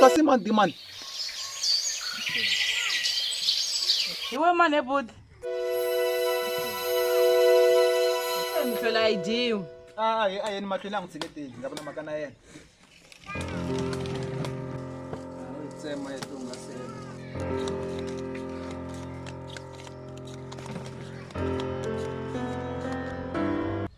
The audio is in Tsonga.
kasi mandi mani iwe mane budi mhlwela a yi dyiwi a hi a yeni mahlwela a n'wi tshiketeli nga vi na mhaka na yena tsema ya tihungasela